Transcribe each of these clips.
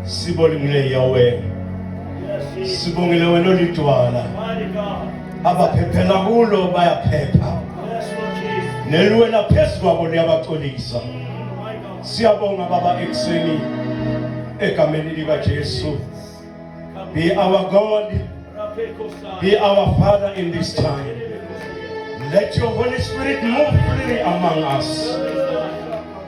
sibonile yawe sibongile wena olidwala abaphephela kulo bayaphepha neliwela phezu kwabo liyabaxolisa siyabonga baba ekuseni egameni likajesu be our god be our father in this time let your holy spirit move freely among us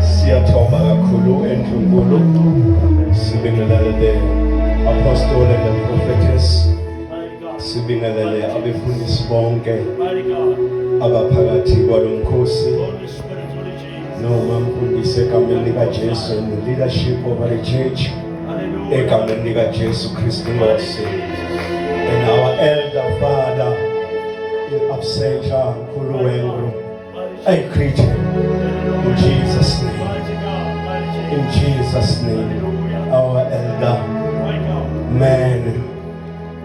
Siyathoba kakhulu endlunkulu sibingelele the apostle and the prophetess sibingelele abefundisi bonke abaphakathi kwalo mkhosi noma mfundisi egameni likajesu and the leadership of our church egameni likajesu kristu nkosi and our elder father in absentia nkulu wengru I greet him in Jesus' name. In Jesus' name. Our elder man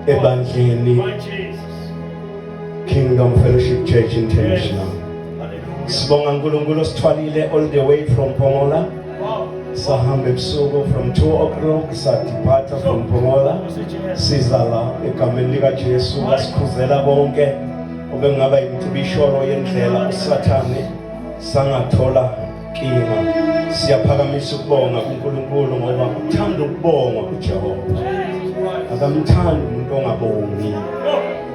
ebandleni Kingdom Fellowship Church International. Sibonga uNkulunkulu osithwalile all the way from Pomola. Sahamba ebusuku from 2 o'clock sadiphatha from Pomola. Sizala egameni likaJesu basikhuzela bonke. obengaba yimtibisholo yendlela usathane sangathola nkinga siyaphakamisa ukubonga kuNkulunkulu ngoba uthanda ukubonga uJehova akamthandi umuntu ongabongi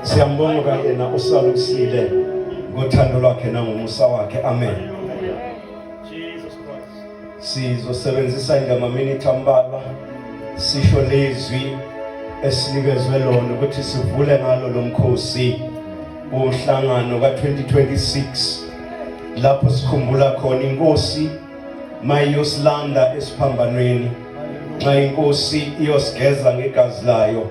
siyambonga kayena usalusile ngothando lwakhe nangomusa wakhe amen Sizosebenzisa nje amaminithi ambalwa sisho lezwi esinikezwe lona ukuthi sivule ngalo lo mkhosi umhlangano ka-2026 lapho sikhumbula khona inkosi mayiyosilanda esiphambanweni nxa inkosi iyosigeza ngegazi layo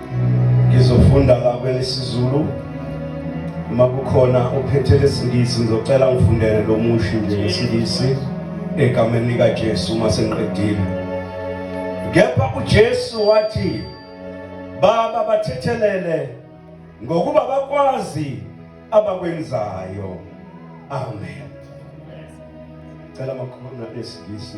ngizofunda la kwelesizulu uma kukhona ophethe lesingisi ngizocela ngifundele lo mushi nje ngesilisi egameni likajesu uma sengiqedile kepha ujesu wathi baba bathethelele ngokuba bakwazi abakwenzayo amen cela makhona lesingisi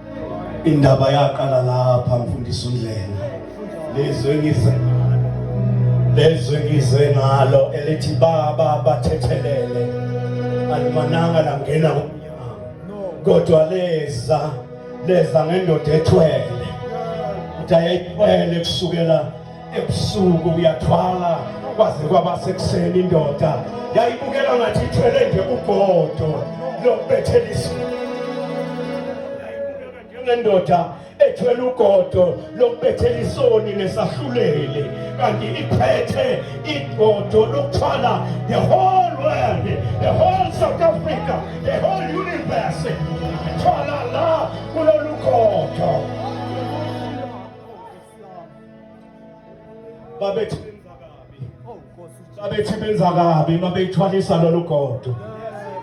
Indaba yaqala lapha mfundisi uNdlela. Lezwe ngize lezwe ngize ngalo elithi baba bathethelele alimananga langena kumnyama kodwa leza leza ngendoda ethwele uthi ayayithwele kusukela ebusuku uyathwala kwaze kwaba sekuseni indoda yayibukela ngathi ithwele nje ugodo lokubethela isimo njengendoda ethwele ugodo lokubethela isoni nesahluleli kanti iphethe igodo lokuthwala the whole world the whole south africa the whole universe ithwala la kulolu godo babethe oh, babethe benza kabi uma beyithwalisa lolu godo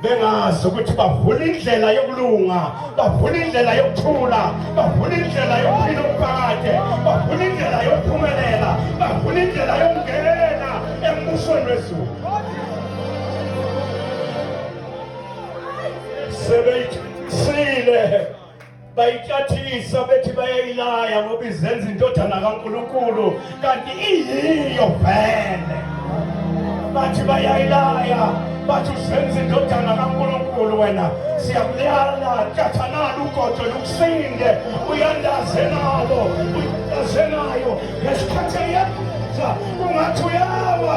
bengazi ukuthi bavula indlela yokulunga bavula indlela yokuthula bavula indlela yokuphila umphakade bavula indlela yokuphumelela bavula indlela yokungena embusweni wezulu sebeyithisile bayitshathisa bethi bayayilaya ngoba izenza indodana kaNkulunkulu kanti iyiyo vele bathi bayayilaya bathi uzenza indodana kaNkulunkulu wena siyakulala cathanala ugodo lukusinde uyandaze nalo uyandaze nayo ngesikhathi eyenza ungathi uyawa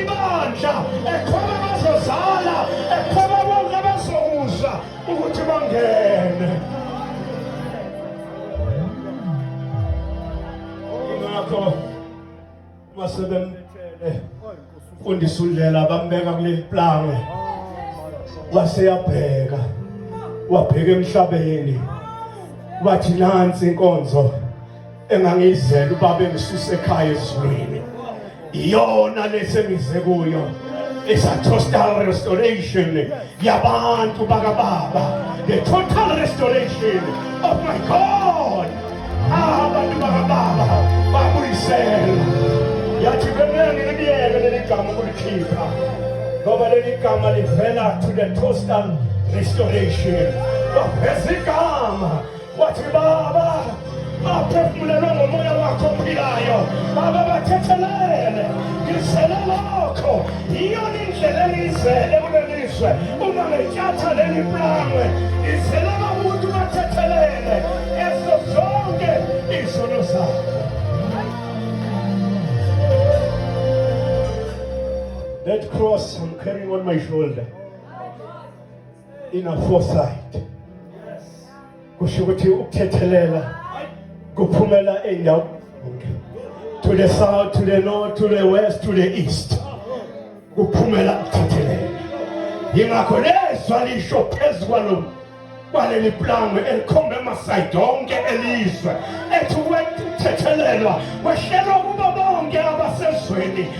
Ibandla ekhona bazozala ekhona bonke abazokuzwa ukuthi bangene. Ingakho masebemthele fundisa undlela bambeka kuleli plangwe waseyabheka wabheka emhlabeni wathi nansi inkonzo engangiyizela ubaba engisuse ekhaya ezulwini iyona lesengize kuyo is a total restoration yabantu bakababa the total restoration of my god abantu bakababa babuyisela yathi bemele ngilibiyeke leli gama ukulikhipha ngoba leli gama livela to the total restoration baveza igama wathi baba baphefumulelwe ngomoya wakho ophilayo baba bathethelele ngizele lokho yiyona indlela engiyizele kulelizwe uma ngetyatha leli plangwe ngizele bamuntu bathethelele ezo zonke izono zakho That cross I'm carrying on my shoulder. ina foresight kusho ukuthi ukuthethelela kuphumela eyindawo to the south to the north to the west to the east kuphumela ukuthethelela yingakho lezwa lisho phezu kwalo kwaleli plangwe elikhomba emasayidi onke elizwe ethi kwethethelelwa kwehlelwa kubo bonke abasezweni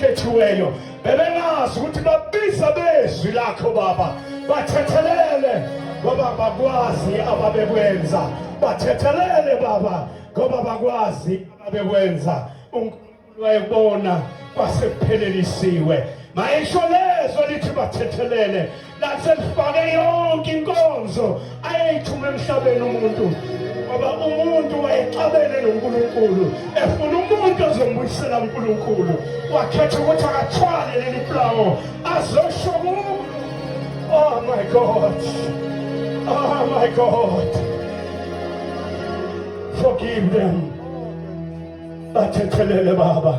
khethiweyo bebengazi ukuthi babiza bezwi lakho baba bathethelele ngoba bakwazi ababekwenza bathethelele baba ngoba bakwazi ababekwenza unkulunkulu wayebona kwasekuphelelisiwe mayisho lezwe lithi bathethelele laselifake yonke inkonzo ayeyithuma emhlabeni umuntu ngoba umuntu wayexabene noNkulunkulu efuna umuntu ozombuyisela uNkulunkulu wakhetha ukuthi akathwale leli plawo azosho ku oh my god oh my god forgive them bathethelele baba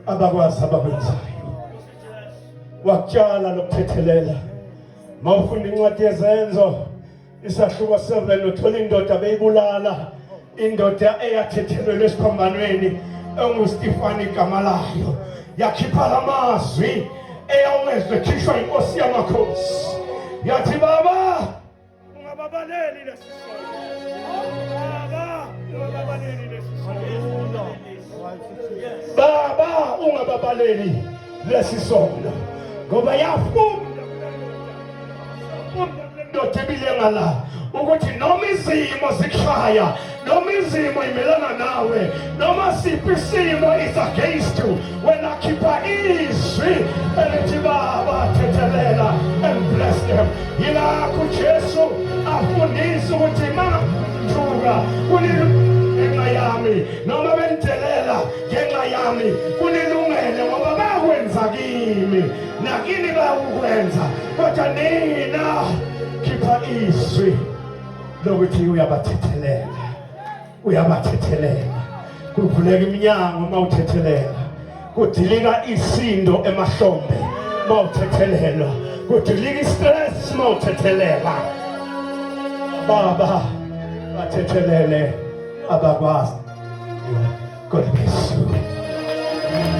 abakwazi abakwenzayo wakutshala nokuthethelela mawufunda incwadi yezenzo isahluko 7 uthola indoda beyibulala indoda eyathethelelwa esiphambanweni engustifani igama layo yakhipha la mazwi eyawezwe ekhishwa inkosi yamakhosi yathi baba ungababaleli lesi baba ungababaleli lesi baba ungababaleli lesi sono ngoba yafunda ndoda ebile ngala ukuthi noma izimo zikushaya noma izimo imelana nawe noma siphi isimo is against you wena khipha izwi elithi baba thethelela and bless them yilakho ujesu afundisa ukuthi ma nduka kungenxa yami noma bendelela ngenxa yami kunilungele ngoba bakwenza kimi nakini bayakukwenza kodwa nina khipha izwi lokuthi uyabathethelela uyabathethelela kuvuleka iminyango uma uthethelela kudilika isindo emahlombe uma uthethelelwa kudilika istress uma uthethelela baba bathethelele abakwazi God bless you.